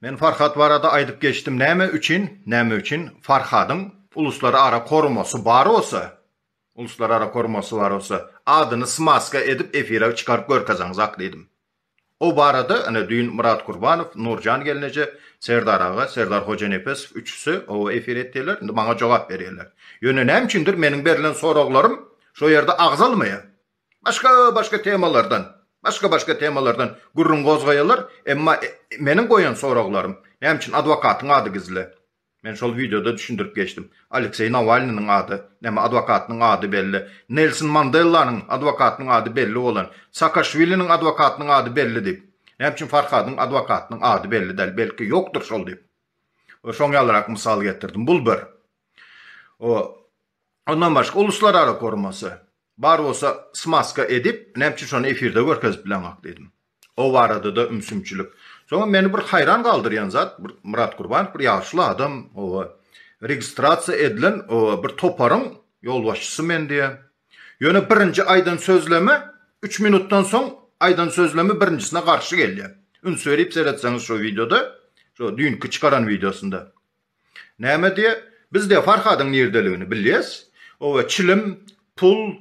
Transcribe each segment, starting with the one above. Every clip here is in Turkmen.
Men Farhat barada aýdyp geçdim näme üçin näme üçin Farhadyň uluslar ara korumasy bar bolsa uluslar ara korumasy bar bolsa adyny smaska edip efira çykaryp görkezeňzak diýdim. O barada ine düýn Myrat Gurbanow, Nurjan gelneje, Serdar aga, Serdar Hojanepesow üçüsi oba efir etdiler, indi maňa jogap berýärler. Ýöne näme üçindir meniň berlen soraglarym şo ýerde agzalmaýar. Başga-başga temalardan, başga-başga temalardan gürrüň gozgaýarlar, emma meniň goýan soraglarym, näme üçin adwokatyň ady gizli? Men şol wideoda düşündirip geçdim. Alekseý Nawalnynyň ady, näme adwokatynyň ady belli. Nelson Mandellanyň adwokatynyň ady belli bolan. Saakaşwiliniň adwokatynyň ady belli diýip. Näme üçin Farhadyň adwokatynyň ady belli däl, belki ýokdur şol diýip. We şoň ýalyrak mysal getirdim. Bul bir. O, ondan başga uluslarara gurmasy. Bar bolsa smaska edip, näme üçin şony efirde görkezip bileňok diýdim. O barada-da ümsümçilik. Soňam meni bir haýran galdyrýan zat, bir Myrat Gurbanow bir ýaşuly adam, oba, registrasiýa edilen, oba, bir toparyň ýolbaşçysy men diýýä. Ýöne birinji aýdan sözleme üç minutdan soň aýdan sözlemi birinjisine garşy gelýä. Üns berip seretseňiz şo wideoda, şo düýnki çykaran wideosynda. Näme diýe, biz-de Farhadyň nirdeligini bilýäs. Oba, çilim, pul,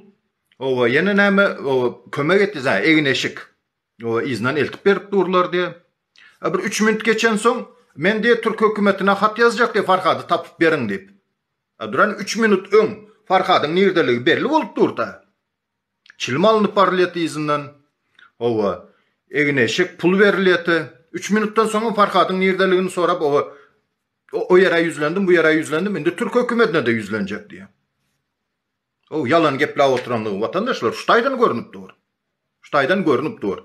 oba, ýene näme, oba, kömek etdi, zä, egin-eşik, oba, yzyndan eltip berip durlar diýe. A bir üç minut geçensoň, men diýe, türk hökümetine hat ýazjak diýe, Farhady tapyp beriň diýip. A duran üç minut öň Farhadyň nirdeligi belli bolup dur-da. Çilim alnyp barylýat yzyndan. Oba, egin-eşek, pul berilýäte. Üç minutdan soňam Farhadyň nirdeligini sorap, oba, o ýere ýüzlendim, bu ýere ýüzlendim, indi türk hökümetine-de ýüzlenjek diýýär. Oba, ýalan gepläp oturandygy watandaşlar şu taýdan görnüp dur. Şu taýdan görnüp dur.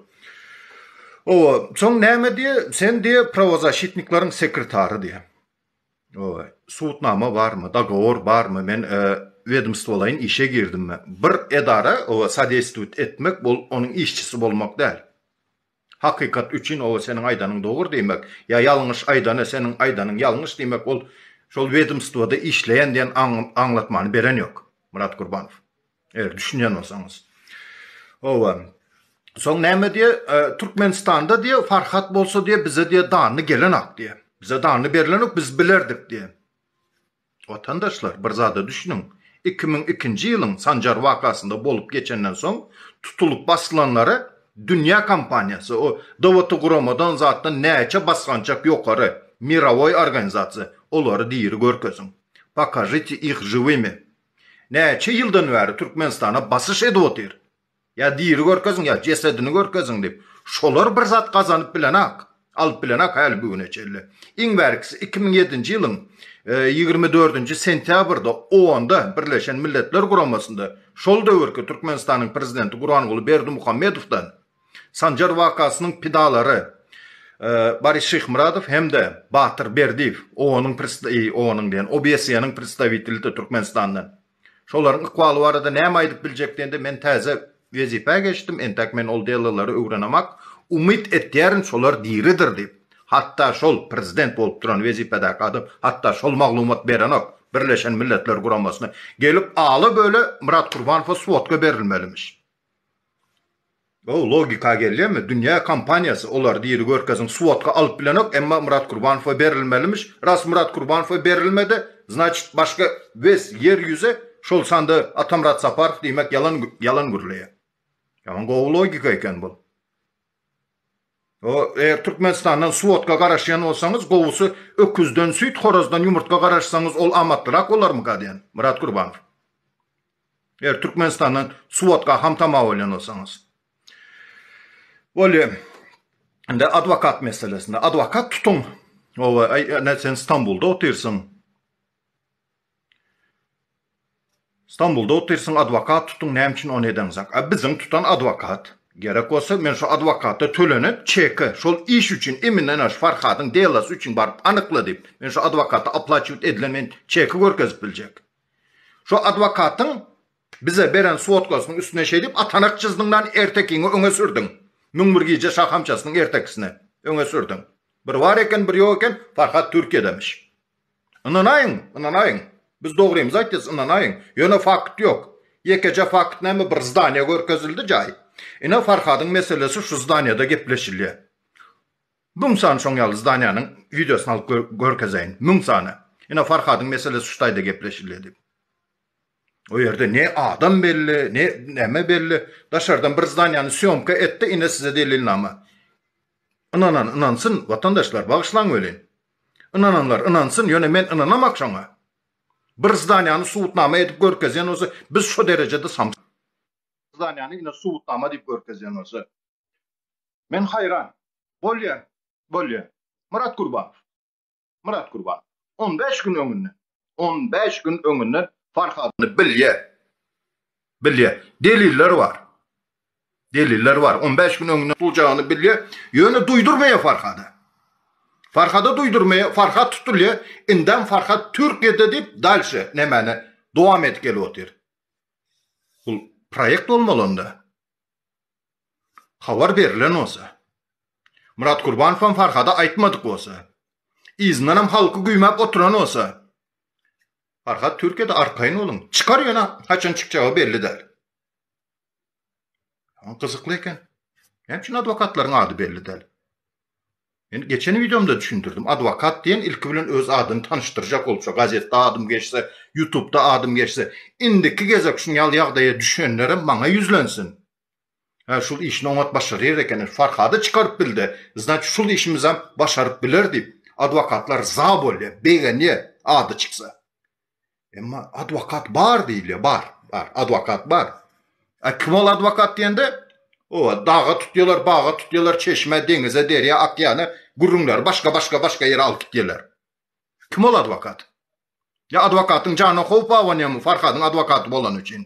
Oba, soň näme diýýär? Sen diýýär, prawozaşitnikleriň sekretary diýýär. Oe. Sudnama barmy, dogowor barmy, men wedmstwolaýyn işe girdimmi? Bir edara oe sadestwit etmek bol onuň işçisi bolmak däl. Hakykat üçin oe seniň aýdanyň dogry diýmek ýa ýalňyş aýdany seniň aýdanyň ýalňyş diýmek ol şol wedmstwoda işleýän diýen aňlatmany beren ýok Myrat Gurbanow. Eger düşünýän bolsaňyz. Owa. Soň näme diýe? Türkmenistanda diýe Farhat bolsa diýe bize diýe danly gelenok diýe. Bize danly berlenok, biz bilerdik diýe. Watandaşlar, bir zada düşüniň. 2002-nji ýylyň Sanjar wakasynda bolup geçenden soň tutulyp basylanlara dünýä kompaniýasy, o dowlety guramadan zatdan näçe basgançak ýokary, mirowoý organizasiýa, olary diri görkeziň. Pokažite ih žiwimi. Näçe ýyldan bäri Türkmenistana basyş edip otyr. Ýa diri görkeziň, ýa jesedini görkeziň diýip. Şolar bir zat gazanyp bilenak. Alyp bilenak häli bu güne çenli. Iň bärkisi iki müň ýedinji ýylyň ýigrimi dördünji sentýabrda OON-da, Birleşen Milletler Guramasynda, şol döwürki Türkmenistanyň prezidenti Gurbanguly Berdimuhamedowdan, Sanjar wakasynyň pidalary Boris Şyhmyradow hem-de Batyr Berdiýew, OON-yň OON-yň diýen, OBSE-niň predstawitelidi Türkmenistandan. Şolaryň ykbaly barada näme aýdyp biljek diýende, men täze wezipä geçdim, entäk men ol delalary öwrenemak, umyt etýärin, şolar diridir diýip, hatda şol prezident bolup duran wezipedäki adam hatda şol maglumat berenok, Birleşen Milletler Guramasyna gelip ala-böle Myrat Kurbanowa svodka berilmelimiş. Gowy logika gelýärmi? Dünýä kompaniýasy olar diri görkeziň svodka alyp bilenok emma Myrat Kurbanowa berilmelimiş ras Myrat Kurbanowa berilmedi znaçit başga wes ýer ýüzi şol sanda Atamyrat Saparow diýmek ýalan ýalan gürleýär. Ýaman gowy logika eken bul. O eger Türkmenistandan svodka garaşýan bolsaňyz gowusy öküzden süýt horazdan ýumurtga garaşsaňyz ol amatlyrak bolarmyka diýen Myrat Kurbanow. Eger Türkmenistandan suwotga ham tama bolýan bolsaňyz. Bolýa. Indi adwokat meselesinde. Adwokat tutuň. Owa, aý, ne sen Stambulda otyrsyň. Stambulda otyrsyň, adwokat tutuň, näme üçin ony edeňzak? A biziň tutan adwokat. Gerek bolsa, men şu adwokata tölenen çeki şol iş üçin, iminden aş Farhadyň delosy üçin baryp anykla diýip, men şu adwokata aplaçiwt edilen men çeki görkezip biljek. Şo adwokatyň bize beren swodkasynyň üstüne şeýdip atanak jyzdyňdan ertekiňi öňe sürdüň. Müň bir gije şahamçasynyň ertekisine öňe sürdüň. Bir bar eken, bir ýok eken, Farhat Türkiýedemiş. Ynanaýyň, ynanaýyň. Biz dogrymyzy aýtýas, ynanaýyň. Ýöne fakt ýok. Ýekeje fakt näme bir zdaniýa görkezildi jaý. Ine Farhadyň meselesi şu zdaniýada gepleşilýär. Müň sany şoň ýaly zdaniýanyň wideosyny alyp görkezeýin. Müň sany. Ine Farhadyň meselesi şu taýda gepleşilýedi. O ýerde ne adam belli, ne näme belli. Daşardan bir zdaniýany sýomka etdi, ine size delilnama. Ynanan ynansyn, watandaşlar, bagyşlaň welin. Ynananlar ynansyn, ýöne men ynanamak şoňa. Bir zdaniýany subutnama edip görkezýän bolsa, biz şo derejede samsyk. Zdaniýany ine subutnama diýip görkezýän bolsa. Men haýran. Bolýar, bolýar. Myrat Gurbanow. Myrat Gurbanow. On bäş gün öňünden. On bäş gün öňünden Farhadyny bilýär. Bilýär. Deliller bar. Deliller bar. On bäş gün öňünden dujagny bilýär. Ýöne duýdurmaýar Farhada. Farhada duýdurmaýar. Farhat tutulýar. Indem Farhat Türkiýede diýip dalşe nämeni dowam edip gelip otyr. Bu proýekt bolmaly onda. Habar berilen bolsa. Myrat Gurbanowam Farhada aýtmadyk bolsa. Yzyndanam halky güýmäp oturan bolsa. Farhat Türkiýede arkaýyn boluň. Çykar ýöne haçan çykjagy belli däl. Gyzykly eken. Näme üçin adwokatlaryň ady belli däl? Men geçen wideomda düşündirdim. Adwokat diýen ilki bilen öz adyny tanyşdyrjak bolsa, gazetde adym geçse, ýutubda adym geçse, indiki gezek şun ýaly ýagdaýa düşenlerem maňa ýüzlensin. Hä şul işini oňat başaryr ekeni, Farhady çykaryp bildi, znaçy şul işimizem başaryp biler diýip, adwokatlar za bolýa, begenýä ady çyksa. Emma adwokat bar diýilýär, bar, bar, adwokat bar. A kim ol adwokat diýende, owa, daga tutýarlar, baga tutýarlar, çeşmä, deňize, derýa, okeana, gürrüňleri başga, başga, başga ýere alyp gitýärler. Kim ol adwokat? Ýa adwokatyň janyna howp abanýarmy Farhadyň adwokaty bolany üçin?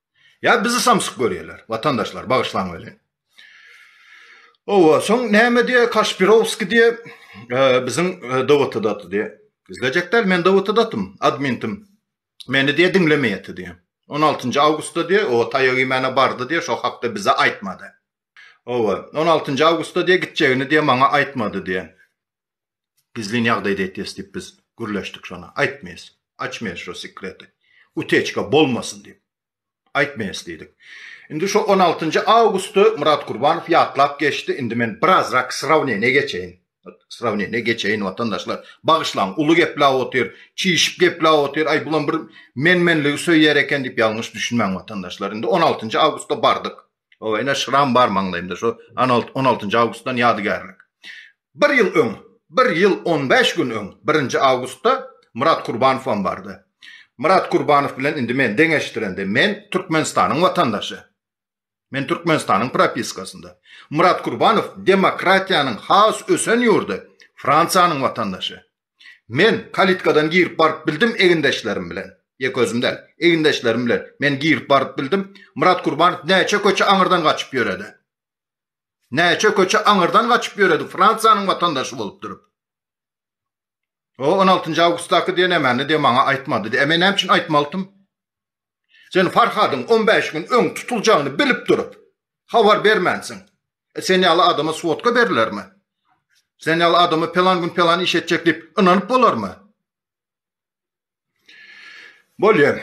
Ýa bizi samsyk görýärler, watandaşlar, bagyşlaň welin. Owa, soň näme diýýär, Kaşpirowskiý diýýär, biziň Dawutadaty diýýär. Gizlejek däl, men Dawutadatym, admintim. Meni diýýär, diňlemeýärdi diýýär. On altynjy awgustda diýýär, o taýak iýmäne bardy diýýär, şo hakda bize aýtmady. Owa, on altynjy awgustda diýýär, gitjegini diýýär, maňa aýtmady diýýär. Gizlin ýagdaýda etýäs diýip biz gürleşdik şonda. Aýtmaýas. Açmaýas şo sekreti. Uteçka bolmasyn diýip. Aýtmaýas diýdik. Indi şo on altynjy awgusty Myrat Kurbanow ýatlap geçdi. Indi men birazrak srawneniýa geçeýin. Srawneniýa geçeýin watandaşlar. Bagyşlaň, uly gepläp otyr. Çişip gepläp otyr. Aý bulam bir men-menligi söýýär eken diýip ýalňyş düşünmäň watandaşlar. Indi on altynjy awgustda bardyk. O ene şram bar maňlaýymda şu on altynjy awgustdan ýadygärlik. Bir ýyl öň, bir ýyl on bäş gün öň, birinji awgustda Myrat Kurbanowam bardy. Myrat Kurbanow bilen indi men deňeşdirende, men Türkmenistanyň watandaşy. Men Türkmenistanyň propiskasynda. Myrat Kurbanow demokratiýanyň has ösen ýurdy Fransiýanyň watandaşy. Men kalitkadan girip baryp bildim egindeşlerim bilen. Ýek özüm däl. Egindeşlerim bilen men girip baryp bildim. Myrat Kurbanow näçe köçe aňyrdan gaçyp ýöredi. Näçe köçe aňyrdan gaçyp ýöredi Fransiýanyň watandaşy bolup durup. O on altynjy awgustdaky diýen emänidi maňa aýtmadydy. Eme näme üçin aýtmalydym? Sen Farhadyň on bäş gün öň tutuljagyny bilip durup, habar bermänsiň. E, sen ýaly adama svodka berilermi? Sen ýaly adama pelan gün pelan iş etjek diýip ynanyp bolarmy? Bolýa.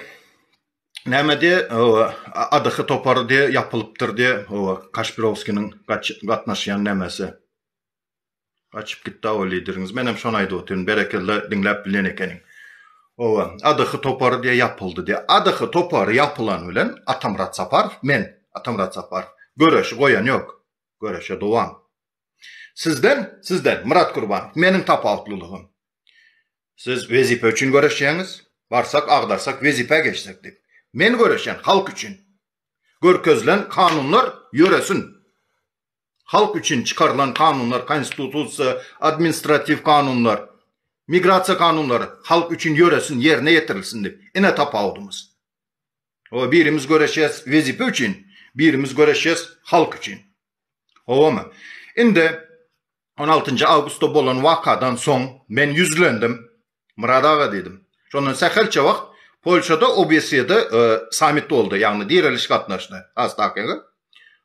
Näme diýe, ADH topary diýe ýapylypdyr diýe, Kaşpirowskiniň gatnaşýan nämesi. Açyp gitdi awa lideriňiz. Menem şony aýdyp otyryn. Berekella diňläp bilen ekeniň. Owa, ADH topary diýe ýapyldy diýe. ADH topary ýapylan bilen Atamyrat Saparow men, Atamyrat Saparow göreşi goýan ýok. Göreşe dowam. Sizden, sizden Myrat Gurbanow meniň tapawutlylygym. Siz wezipe üçin göreşýäňiz. Barsak, agdarsak, wezipä geçsek diýip. Men göreşýän halk üçin. Görkezilen kanunlar ýöresin. halk üçin çykarylan kanunlar, konstitusiýa, administratiw kanunlar, migrasiýa kanunlary halk üçin ýöresin, ýerine ýetirilsin diýip. Ine tapawudymyz. Oba birimiz göreşýäs wezipe üçin, birimiz göreşýäs halk üçin. Howamy? Indi on altynjy awgustda bolan wakadan soň men ýüzlendim. Myrat aga diýdim. Şondan sähelçe wagt Polşada OBSE-de sammit boldy, ýagny direliş gatnaşdy. Has takygy.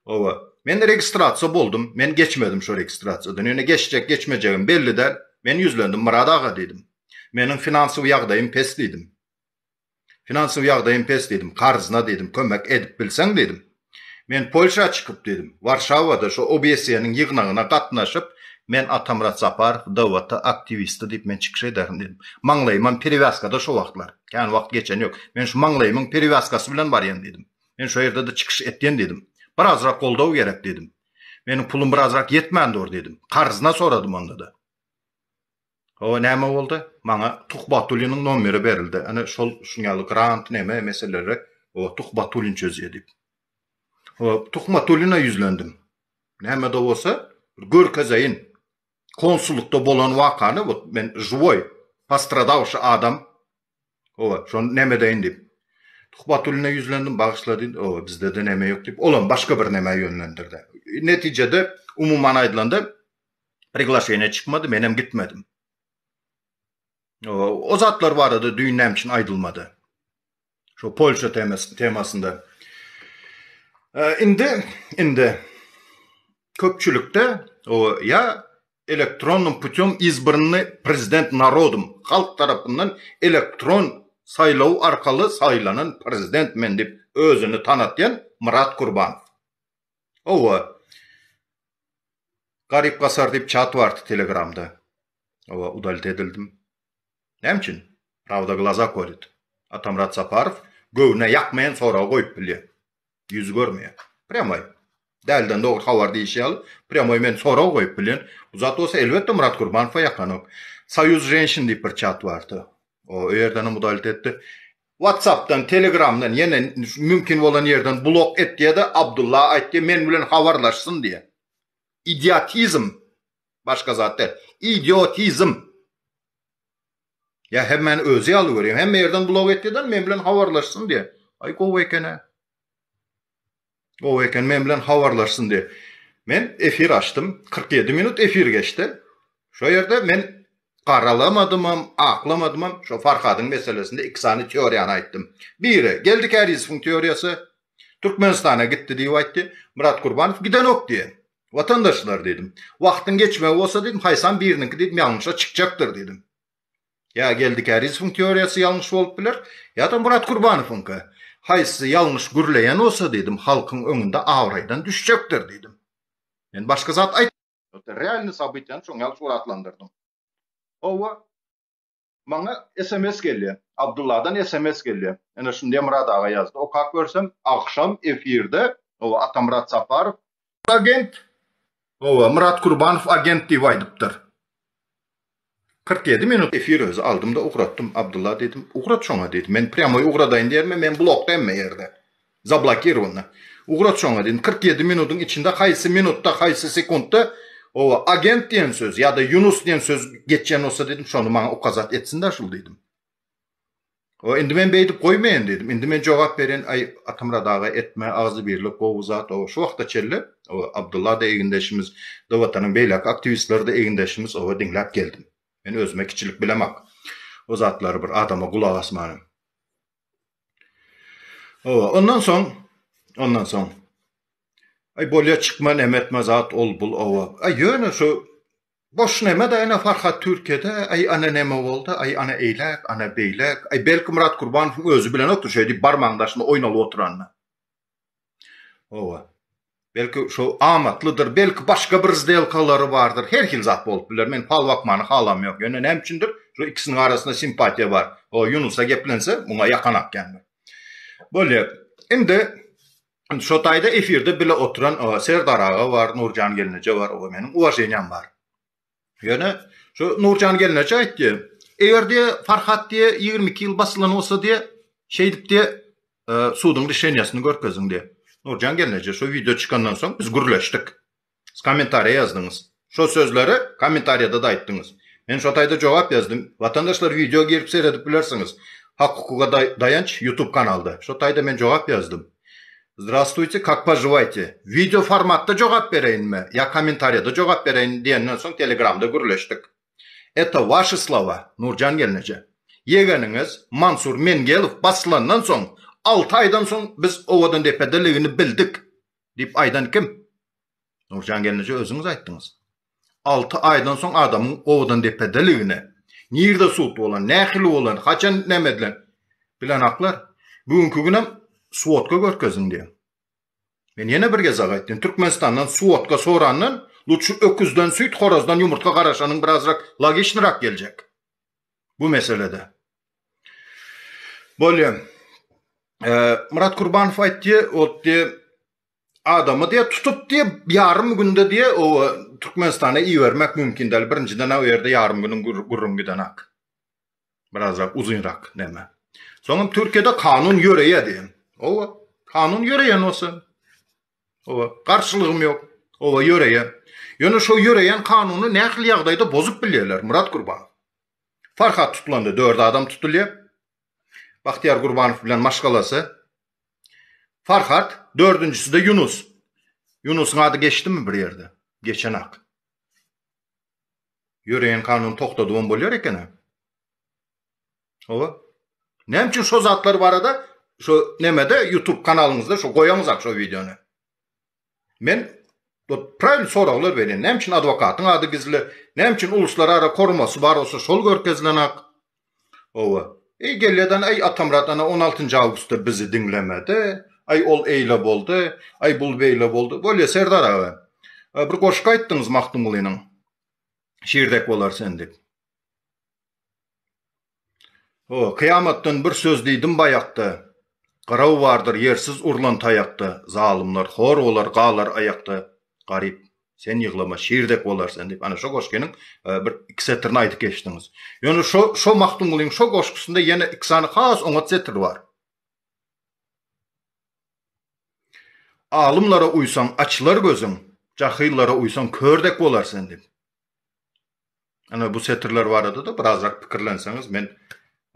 Hawa. Men registrasiýa boldum. Men geçmedim şo registrasiýadan. Ýöne geçjek, geçmejegim belli däl. Men ýüzlendim. Myrat aga diýdim. Meniň finansowy ýagdaýym pes diýdim. Finansowy ýagdaýym pes diýdim, karzna diýdim, kömek edip bilseň diýdim. Men Polşa çykyp diýdim, Warşawada şu OBSE-niň ýygnagyna gatnaşyp, men Atamyrat Saparow, DWT aktiwisti diýip men çykyş ederin diýdim. Maňlaýymam perewýaskada şo wagtlar. Kän wagt geçen ýok. Men şu maňlaýymyň perewýaskasy bilen barýan diýdim. Men şo ýerde-de çykyş etýän diýdim. Birazrak goldaw gerek diýdim. Meniň pulum birazrak ýetmän dur diýdim. Karzna soradym onda-da. Hawa näme boldy? Maňa Tuhbatulynyň nomeri berildi. Ene şol şuň ýaly grant neme meseleleri o Tuhbatulyn çözýär diýip. O Tuhmatulyna ýüzlendim. Näme-de bolsa bir görkezeýin. Konsullykda bolan wakany bu men žuwoý postradawşy adam. Owa, şony neme edeýin diýip. Tuhbatulyna ýüzlendim, bagyşla diýdi. Owa, bizde-de neme ýok diýip, olam başga bir neme ýönlendirdi. Netijede umuman aýdylanda Priglaşeniýe çykmady, menem gitmedim. O zatlar barada düýn näme üçin aýdylmady? Şu Polşa temasy temasynda. Indi indi köpçülikde o ýa elektronnym putem izbrnny prezident narodum halk tarapyndan elektron saýlaw arkaly saýlanan prezident men diýip özüni tanatýan Myrat Kurban. Owa. Garyp gasar diýip çat bardy telegramda. Owa, udalit edildim. Näme üçin? Prawda glaza kolýt. Atamyrat Saparow göwnüne ýakmaýan soragy goýup bilýär. Ýüzi görmeýär. Prýamoý. Dälden dogry habar diýşi ýaly, prýamoý men sorag goýup bilýän. Bu zat bolsa elbetde Myrat Gurbanowa ýakanok. Soýuz ženşin diýip bir çat bardy. Owa, o ýerdenem udalit etdi. Whatsappdan telegramdan ýene mümkin bolan ýerden blok et diýede Abdulla aýt diýe men bilen habarlaşsyn diýe. Idiotizm başga zat däl. Idiotizm. Ýa hemmäni özi ýaly görýän hemme ýerden blok et diýeden men bilen habarlaşsyn diýe. Aý gowy ekene. Gowy eken men bilen habarlaşsyn diýip. Men efir açdym. 47 minut efir geçdi. Şo ýerde men garalamadymam, aklamadymam, şo Farhadyň meselesinde iki sany teoriýany aýtdym. Biri, Geldi Kärizowyň teoriýasy, Türkmenistana gitdi diýip aýtdy. Myrat Gurbanow gidenok diýen. Watandaşlar diýdim. Wagtyň geçmegi bolsa diýdim, haýsam biriniňki diýdim ýalňyşa çykjakdyr diýdim. Ýa Geldi Kärizowyň teoriýasy ýalňyş bolup biler, ýa-da Murat Kurbanowyňky. Haýsy ýalňyş gürleýän bolsa diýdim, halkyň öňünde abraýdan düşjekdir diýdim. Men başga zat aýt. Ýa-da realny sabytyýany şoň ýaly suratlandyrdyň. Hawa, maňa sms gelýä. Abdulladan sms gelýä. Ene şindä Myrat aga ýazdy. Okap görsem, agşam efirde, hawa, Atamyrat Saparow agent. Owa, Myrat Kurbanow agent diýip aýdypdyr. Kyrk ýedi minut efir özi aldym-da ugratdym. Abdylla diýdim, Ugrat şoňa diýdim. Men prýamoý ugradaýyn diýermi, men blokda hemme ýerde. Zablokirowany. Ugrat şoňa diýdim. Kyrk ýedi minutyň içinde haýsy minutda, haýsy sekuntda, owa, agent diýen söz ýa-da Ýunus diýen söz geçýän bolsa diýdim, şony maňa ukazat etsin-dä şul diýdim. O indi men beýdip goýmaýan diýdim. Indi men jogap berýän, Aý, Atamyrat aga, etme, agzybirlik gowy zat, oba, şu wagta çenli, oba, Abdylla-da egindeşimiz, da Watanyň beýläk aktiwistleri-de egindeşimiz, oba, diňläp geldim. Men özüme kiçilik bilemok. O zatlary bir adama gulak asmanam. Oba, ondan soň, ondan soň, Aý, bolýa, çykma, näme etme zat, ol, bul, oba. Aý, ýöne şu Boş neme-de ene Farhat Türkiýede, aý ana neme boldy, aý ana eýläk, ana beýläk, aý belki Myrat Kurbanowyň özi bilenokdyr şeý diýip barmagyň daşynda oýnalyp oturanda. Hawa. Belki şo amatlydyr, belki başga bir zdelkalary bardyr, her hil zat bolup biler, men fal bakmany halamýok, ýöne näme üçindir şo ikisiniň arasynda simpatiýa bar, o Ýunusa geplense muňa ýakan akýandyr. Bolýar. Indi Indi şo taýda efirde bile oturan Serdar aga bar, Nurjan gelneje bar, oňa meniň uwaženiýam bar. Ýöne şu Nurjan gelneje aýtdy, eger diýe Farhat diýe ýigrimi iki ýyl basylan bolsa diýe şeýdip diýe suduň rişeniýasyny görkeziň diýe. Nurjan gelneje şo wideo çykandan soň biz gürleşdik. Siz kommentariýa ýazdyňyz. Şo sözleri kommentariýada-da aýtdyňyz. Men şo taýda jogap ýazdym. Watandaşlar wideo girip seredip bilersiňiz. Hak hukuga daýanç ýutub kanalda. Şo taýda men jogap ýazdym. Zdrastuyte kak poživayte. Wideo formatda jogap bereýinmi ýa kommentariýada jogap bereýin diýenden soň telegramda gürleşdik. Eto waşi slova Nurjan gelneje. Ýegeniňiz Mansur Mengelow basylandan soň alty aýdan soň biz owadan depede ligini bildik. Diýip aýdan kim? Nurjan gelneje özüňiz aýtdyňyz. Alty aýdan soň adamyň owadandepedeligine, nirde sud bolan, nähili bolan, haçan näme edilen? Bilenaklar, bu günki günem svodka görkeziň diýen. Men ýene bir gezek aýtdym, Türkmenistandan svodka sorandan, lutşy öküzden süýt, horazdan ýumurtga garaşanyň birazrak logiçnyrak geljek. bu meselede. Bolýa. E, Murat Kurbanow aýtdy, ot diýe adamy diýe tutup diýe ýarym günde diýe o e, Türkmenistana ibermek mümkin däl. Birinjiden o ýerde ýarym günüň gurrun giden ak. Birazrak uzynrak näme. Soňam Türkiýede kanun ýöreýär diýen. O kanun ýöreýän bolsa Oba, garşylygym ýok. Oba ýöreýär. Ýöne şo ýöreýän kanuny nähili ýagdaýda bozup bilýärler, Myrat Gurbanow? Farhat tutlanda dört adam tutulýar. Bahtiýar Gurbanow bilen maşgalasy. Farhat, dördünjisi-de Ýunus. Ýunusyň ady geçdimi bir ýerde? Geçenak. Ýöreýän kanuny togtadyp hem bolýar eken-ä. Owa. Näme üçin şo zatlar barada şo nemede YouTube kanalyňyzda şo goýaňyzak şo wideony. Men bu praýly soraglar berýän. Näme üçin adwokatyň ady gizli? Näme üçin uluslara ara korumasy bar bolsa şol görkezilenak? Owa. Eý gelýäden eý Atamrat ana 16-njy awgustda bizi diňlemedi. Aý ol eýle boldy. Aý bul beýle boldy. Bolýa Serdar aga. Bir goşgy aýtdyňyz Magtymgulynyň. Şirdek bolar sen diýip. O, kyýamatdan bir söz diýdim baýakda, Gyraw bardyr ýersiz urlan taýakda, Zalymlar hor bolar, galar aýakda, Garyp, sen ýyglama, şir dek bolar sen diýip, ana, şo goşgynyň bir iki setirini aýdyp geçdiňiz. Ýöne şo, şo Magtymgulynyň şo goşgusynda ýene iki sany has oňat setir bar. Alymlara uýsaň, açylar gözüň, Jahyllara uýsaň, kör dek bolar sen diýip. Ana bu setirler barada-da birazrak pikirlenseňiz, men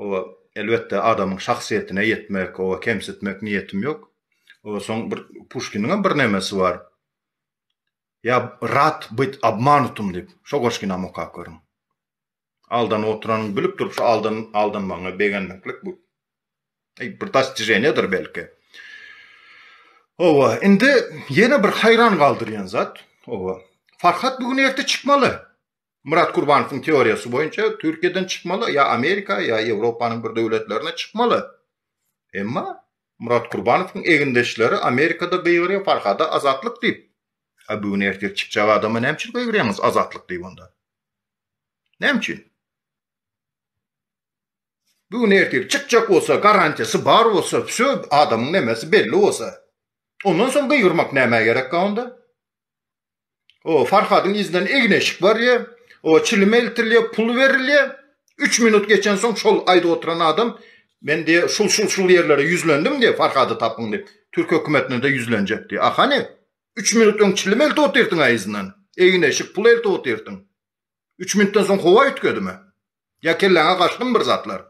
oba elbetde adamyň şahsyýetine ýetmek, oba kemsitmek niýetim ýok. Oba soň bir Puşkiniňem bir nemesi bar. Ýa rad byt obmanutym diýip, şo goşginam okap görüň. Aldanyp oturanyň bilip durup şo aldan aldanmagyňa begenmeklik bu. Eý, bir dostijeniýadyr belki. Owa, indi ýene bir haýran galdyrýan zat, owa, Farhat bu gün erte çykmaly. Murat Kurbanowyň teoriýasy boýunça Türkiýeden çykmaly, ýa Amerika, ýa Ýewropanyň bir döwletlerine çykmaly. Emma Murat Kurbanowyň egindeşleri Amerikada gygyrýar Farhada azatlyk diýip. A bu gün ertir çykjak adama näme üçin gygyrýaňyz azatlyk diýip onda? Näme üçin? Bir gün ertir çykjak bolsa, garantiýasy bar bolsa, wsýo, adamyň nemesi belli bolsa. Ondan soň gygyrmak nämä gerekkä onda? O, Farhadyň yzyndan egin-eşik barýar, o, çilim eltilýär, pul berilýär. Üç minut geçen soň şol aýdyp oturan adam, Men diýe, şul-şul-şul ýerlere ýüzlendim diýe, Farhady tapyň diýip, türk hökümetine-de ýüzlenjek diýe. A hany? Üç minut öň çilim eltip otyrsyň-a yzyndan, egin-eşik, pul eltip otyrsyň. Üç minutdan soň howa üýtgedimi? Ýa kelläňe gaçdymy bir zatlar?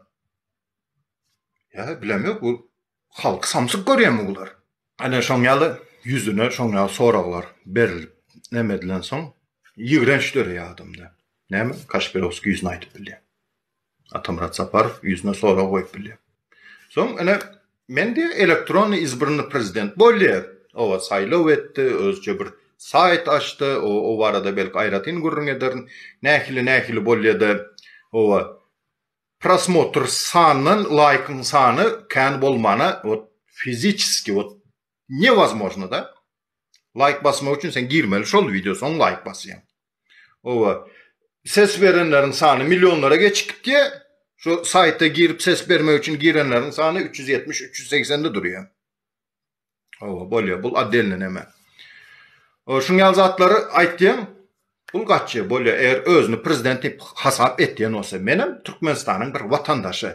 Ýa bilemok bu halky samsyk görýärmi bular? Ene şoň ýaly ýüzüne şoň ýaly soraglar berilip neme edilen soň ýigrenç döreýär adamda. Näme Kaşpirowskiý ýüzüne aýdyp bilýär. Atamyrat Saparow ýüzüne sorag goýup bilýär. Soň ene Mende elektronny izbrnny prezident boldy, owa saýlaw etdi, özüçe bir saýt açdy, owa o barada belki aýratyn gürrüň ederin, nähili nähili bolýada, owa prosmotr sandan laýkyň sany kän bolmana ot fiziçeski ot ne wazmožno da, laýk basmak üçin sen girmeli şol wideo soň laýk basýaň. Owa. Ses berenleriň sany millionlara geçip gitýä. Şu saýta girip ses bermek üçin girenleriň sany üç ýüz ýetmiş, üç ýüz segsen de durýa. Owa, bolýa. Bul oddelny neme. O şuň ýaly zatlary aýtýaň. Pul gaçýa, bolýa. Eger özüni prezident diýip hasap etýän bolsa, menem Türkmenistanyň bir watandaşy.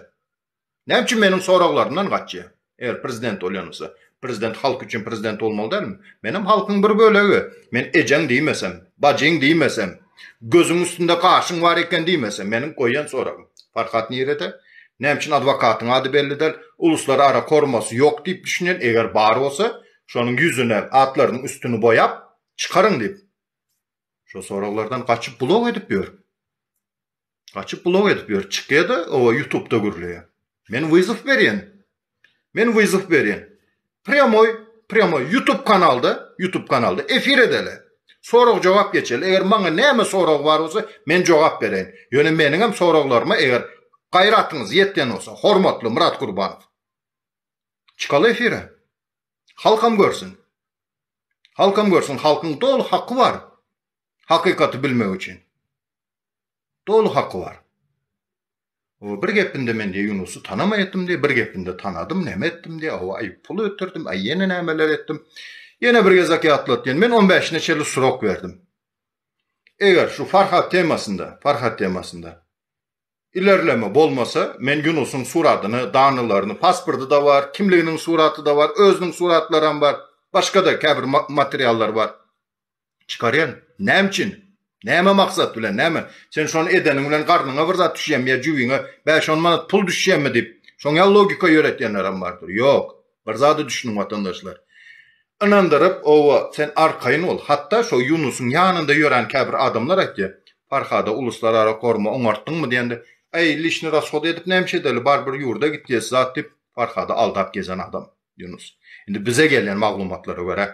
Näme üçin meniň soraglarymdan gaçýa? Eger prezident bolýanymsa, prezident halk üçin prezident bolmaly dälmi? Menem halkyň bir bölegi. Men ejeň diýmesem, bajyň diýmesem, gözüň üstünde gaşyň bar eken diýmesem, meniň goýan soragym. Farhat nirede? Näme üçin adwokatyň ady belli däl? Uluslar ara kormasy ýok diýip düşünýän, eger bar bolsa, şonuň ýüzüne, atlarynyň üstüni boýap, çykaryň diýip. Şo soraglardan gaçyp blok edip ýör. Gaçyp blog edip ýör. Çykyada owa ýutubda gürleýä. Men wyzow berýän. Men wyzow berýän. Prýamoý, prýamoý ýutub kanalda, ýutub kanalda efir edeli. Sorag jogap geçeli. Eger maňa näme sorag bar bolsa men jogap bereýin. Ýöne meniňem soraglaryma eger gaýratyňyz ýetýän bolsa hormatly Myrat Gurbanow. Çykaly efire. Halkam görsün. Halkam görsün. Halkyň doly haky bar. Hakykaty bilmek üçin. Doly haky bar. O bir gepinde men diýe Ýunusy tanamaýatdym diýe, bir gepinde tanadym, näme etdim diýe, hawa aý pul ötürdim, aý ýene nämeler etdim. Ýene bir gezek ýatlat diýen, men on bäşine çenli surok berdim. Eger şu Farhat temasynda, Farhat temasynda ilerleme bolmasa, men Ýunusyň suratyny, danylaryny, pasporty-da bar, kimliginiň suraty-da bar, özüniň suratlaram bar, başga-da käbir materiallar bar. Çykarýan? Näme üçin? Näme maksat bilen? Näme? Sen şony edeniň bilen garnyňa bir zat düşýärmi ýa jübiňe bäş-on manat pul düşýärmi diýip, şoň ýaly logika ýöretýänlerem bardyr. Ýok. Bir zada düşüniň watandaşlar. Ynandyryp, oba, sen arkaýyn bol. Hatda şo Ýunusyň ýanynda ýören käbir adamlar aýtýar, Parhada uluslarara korma oňartdyňmy diýende, Äý, lişni rashod edip näme iş edeli, barybir ýurda gitjesi zat diýip, Parhady aldap gezen adam Ýunus. Indi bize gelýän maglumatlara görä,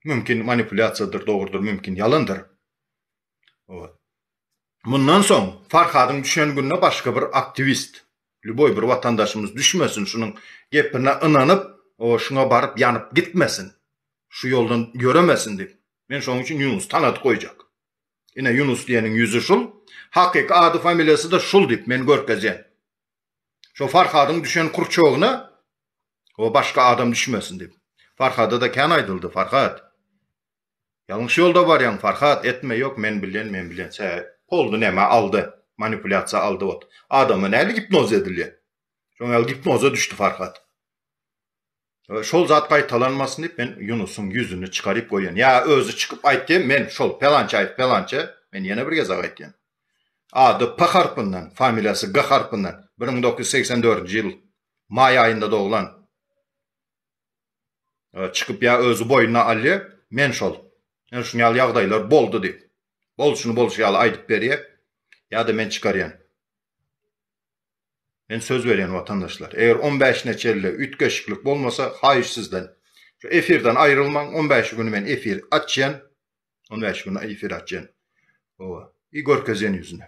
Mümkin manipulýasiýadyr, dogrudyr, mümkin ýalandyr. Mundan soň Farhadyň düşen gününe başga bir aktiwist, lýuboý bir watandaşymyz düşmesin, şunuň gepine ynanyp, şuňa baryp ýanyp gitmesin, şu ýoldan ýöremesin diýip, men şonuň üçin Ýunusy tanadyp goýjak. Ine, Ýunus diýeniň ýüzi şul, hakyky ady-familiýasy-da şul diýip, men görkezýän. Şo Farhadyň düşen kurçogyna o başga adam düşmesin diýip. Farhada-da kän aýdyldy, Farhat, ýalňyş ýolda barýaň, Farhat, etme, ýok, men bilýän, men bilýän, çä, polny nämä aldy, manipulýasiýa aldy ot. Adama nädip gipnoz edilýär? Şoňa ýaly gipnoza düşdi Farhat. Şol zat gaýtalanmasyn diýip men Ýunusyň ýüzüni çykaryp goýan. Ýa özi çykyp aýtdy, men şol Pelançaýew Pelança, men ýene bir gezek aýtýan. Ady P harpyndan, familiýasy G harpyndan, bir müň dokuz ýüz segsen dördünji ýyl maý aýynda doglan. Çykyp ýa özi boýnuna alýa, men şol, ýa şuny ýaly ýagdaýlar boldy diýip, bolşuny bolşy ýaly aýdyp berýä, ýa-da men çykarýan. Men söz berýän watandaşlar, eger on bäşine çenli üýtgeşiklik bolmasa, haýyş sizden, şu efirden aýrylmaň, on bäşi güni men efir açýan, on bäşi güni efir açýan, howa, i görkezýän ýüzüni.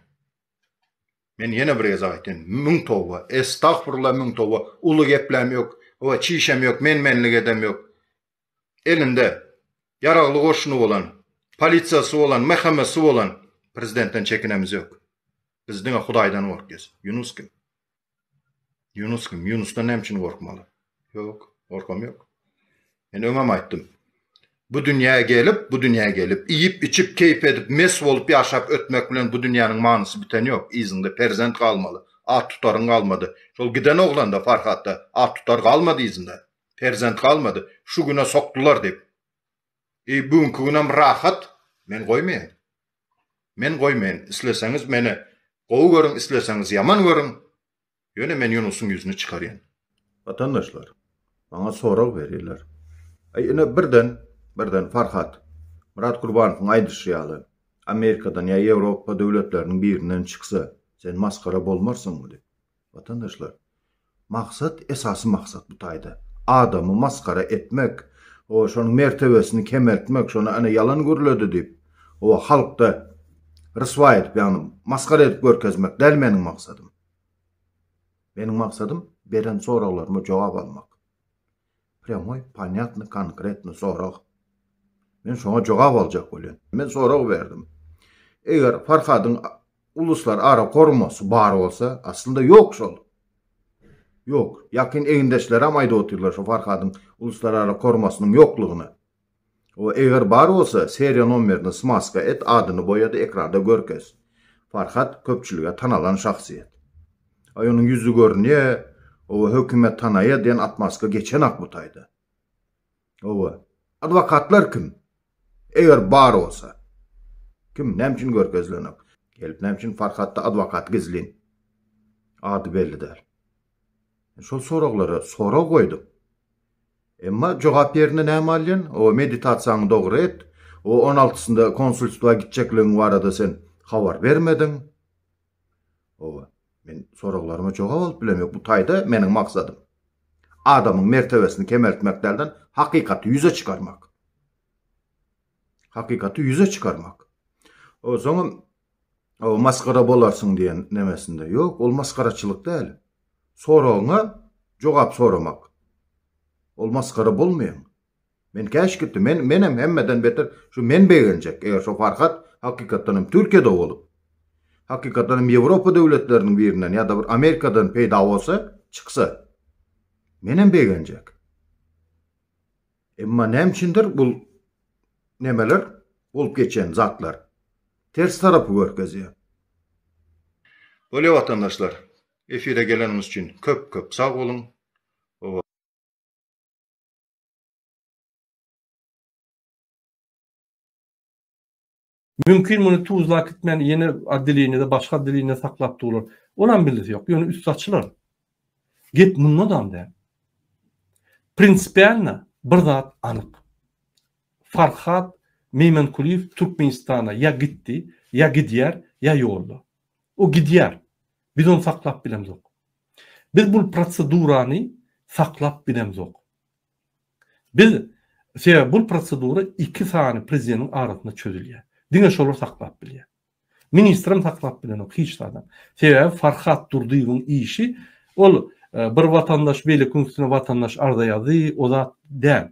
Men ýene bir gezek aýtýan, müň toba, estagfurullah müň toba, uly gepläm ýok, howa, çişem ýok, men-menlik edem ýok. elinde ýaragly goşuny bolan, polisiýasy bolan, MHM-si bolan prezidentden çekinemiz ýok. Biz diňe Hudaýdan gorkýas. Ýunus kim? Ýunus kim? Ýunusdan näme üçin gorkmaly? Ýok, gorkam ýok. Men öňem aýtdym. Bu dünýä gelip, bu dünýä gelip, iýip, içip, keýp edip, mes bolup ýaşap ötmek bilen bu dünýäniň manysy biten ýok. Yzyňda perzent galmaly. At tutaryň galmady. Şol giden oglanda, Farhatda at tutar galmady yzynda. Perzent galmady, şu güne sokdular diýip. Eý, bu günki günem rahat, men goýmaýan. Men goýmaýan, isleseňiz meni gowy görüň, isleseňiz ýaman görüň, ýöne men Ýunusyň ýüzüni çykarýan. Watandaşlar, maňa sorag berýärler. Eý, ine birden, birden Farhat, Myrat Gurbanowyň aýdyşy ýaly, Amerikadan ýa Ýewropa döwletleriniň birinden çyksa, sen masgara bolmarsyňmy diýip. Watandaşlar, maksat, esasy maksat bu taýda adamy masgara etmek, o şonuň mertebesini kemeltmek, şony ana ýalan gürledi diýip, oba halkda ryswa edip, ýagny masgara edip görkezmek däl meniň maksadym. Meniň maksadym beren soraglaryma jogap almak. Prýamoý, ponýatny, konkretny sorag. Men şoňa jogap aljak bolýan. Men sorag berdim. Eger Farhadyň Uluslar ara gurmasy bar bolsa, aslynda ýok şol. Ýok. Ýakyn egindeşleram aýdyp otyrlar şu Farhadyň uluslar ara gurmasynyň ýoklugyny. O eger bar bolsa, seriýa nomerini smaska et, adyny boýa-da ekranda görkez. Farhat köpçülige tanalan şahsyýet. Aý onuň ýüzi görünýä, oba hökümet tanaýa diýen atmazka geçenak bu taýda. Hawa. Adwokatlar kim? Eger bar bolsa. Kim, näme üçin görkezilenok? Gelip näme üçin Farhatda adwokat gizlin? Ady belli däl. Şol soraglara sorag goýdum. Emma jogap ýerine näme alýan? O meditasiýaňy dogry et. O on altysynda konsulstwa gitjekligiň barada sen habar bermediň. Oba, men soraglaryňa jogap alyp bilemek bu taýda meniň maksadym. Adamyň mertebesini kemeltmek dälden, hakykaty ýüze çykarmak. Hakykaty ýüze çykarmak. O, soňam o masgara bolarsyň diýen nemesinde. Ýok, ol masgaraçylyk däl. Soragyňa jogap soramak. Ol masgara bolmaýar. Men käş gitdi men menem hemmeden beter şu men begenjek eger şo farhat hakykatdanam türkiýede bolup hakykatdanam ýewropa döwletleriniň birinden ýada bir amerikadan peýda bolsa çyksa menem begenjek emma näme üçindir bul nemeler bolup geçen zatlar ters tarapy görkezýär. Bolýa watandaşlar efire geleniňiz üçin köp köp sag boluň. Mümkin muny Tuzla äkitmän ýene otdeleniýede başga otdeleniýede saklap durlar. Olam bellesi ýok. Ýöne üsti açylar. Gep mundadam däl. Prinsipialna bir zat anyk. Farhat Meýmankulyýew Türkmenistana ýa gitdi, ýa gidýär, ýa ýolda. O gidýär. Biz ony saklap bilemzok. Biz bul prosedurany saklap bilemzok. Biz, sebäbi bul prosedura iki sany prezideniň arasynda çözülýär. Diňe şolar saklap bilýär. Ministrem saklap bilenok hiç zadam. Sebäbi Farhat Durdyýewiň işi ol bir watandaş beýlekiň üstüne watandaş arza ýazdy, o zat däl.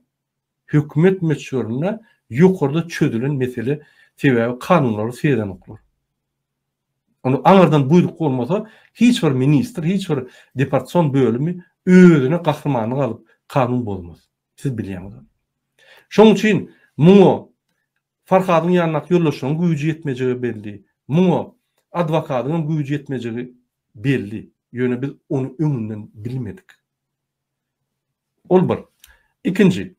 Hökümet möçberinde ýokarda çözülen mesele sebäbi kanunlary seýrenoklar. Onda aňyrdan buýruk bolmasa, hiç bir ministr, hiç bir deportsion bölümi özüne gahrymanlyk alyp, kanun bozmaz. Siz bilýäňiz ony. Şonuň üçin muňa Farhadyň ýanyndaky ýoldaşlaryň güýji ýetmejegi belli, muňa adwokatyň hem güýji ýetmejegi belli. Ýöne biz ony öňünden bilmedik. Ol bir. Ikinji,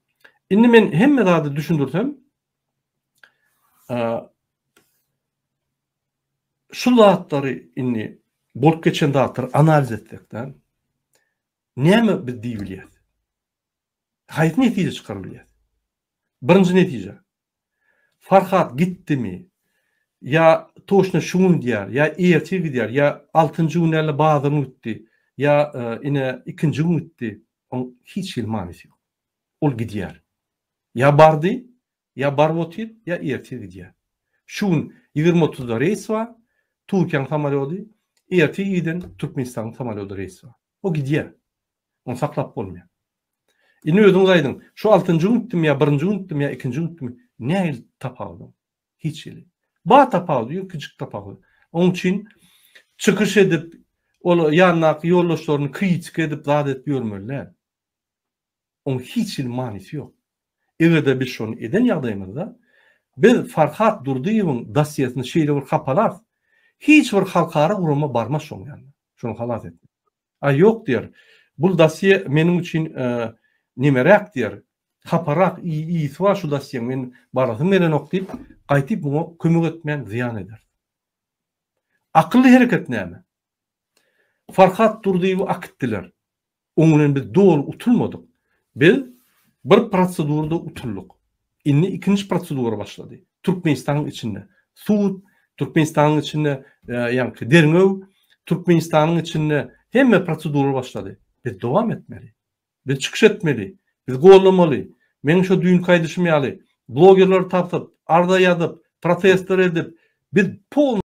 indi men hemme zady düşündirsem, Şu zatlary indi bolup geçen zatlary analiz etsek däl. Näme biz diýip bilýäs? Haýsy netije çykaryp bilýäs? Birinji netije. Farhat gitdimi? Ýa toçna şu gün gidýär, ýa ertir gidýär, ýa altynjy gün däl-de bazar güni gitdi, ýa e, ine ikinji gün gitdi. Oň hiç hili manysy ýok. Ol gidýär. Ýa bardy, ýa baryp otyr, ýa ertir gidýär. Şu gün ýigrimi otuzda reýs bar, Türkiýäň samolýody, ertir irden Türkmenistanyň samolýody reýs bar. O gidýär. Ony saklap bolmaýar. Indi özüňiz aýdyň, şu altynjy gün gitdimi ýa birinji gün gitdimi ýa ikinji gün gitdimi, nähili tapawudy? Hiç hili. Bar tapawudy, ýöne kiçijik tapawudy. Onuň üçin çykyş edip, ol ýanyndaky ýoldaşlaryny kritika edip, zat edip ýörmeli däl. oň hiç hili manysy ýok. Eger-de biz şony eden ýagdaýymyzda, biz Farhad Durdyýewiň dossiýesini şeýle bir hapalarys, hiç bir halkara gurama barmaz şoň ýanyna, şony halas etmez. Aý ýok diýer, bul dossiýe meniň üçin nemeräk diýer, haparak, ýiti bar şu dossiýeň, men barasym gelenok diýip, gaýtyp muňa kömek etmän zyýan ederis. Akylly hereket näme? Farhad Durdyýewi akitdiler. Oň bilen biz doly utulmadyk. Biz bir prosedurada utuldyk. Indi ikinji prosedura başlady. Türkmenistanyň içinde sud, Türkmenistanyň içinde ýaňky derňew, Türkmenistanyň içinde hemme prosedura başlady. Biz dowam etmeli. Biz çykyş etmeli. Biz gollamaly. Meň şo düýnki aýdyşym ýaly, blogerleri tapyp, arza ýazyp, protestler edip, biz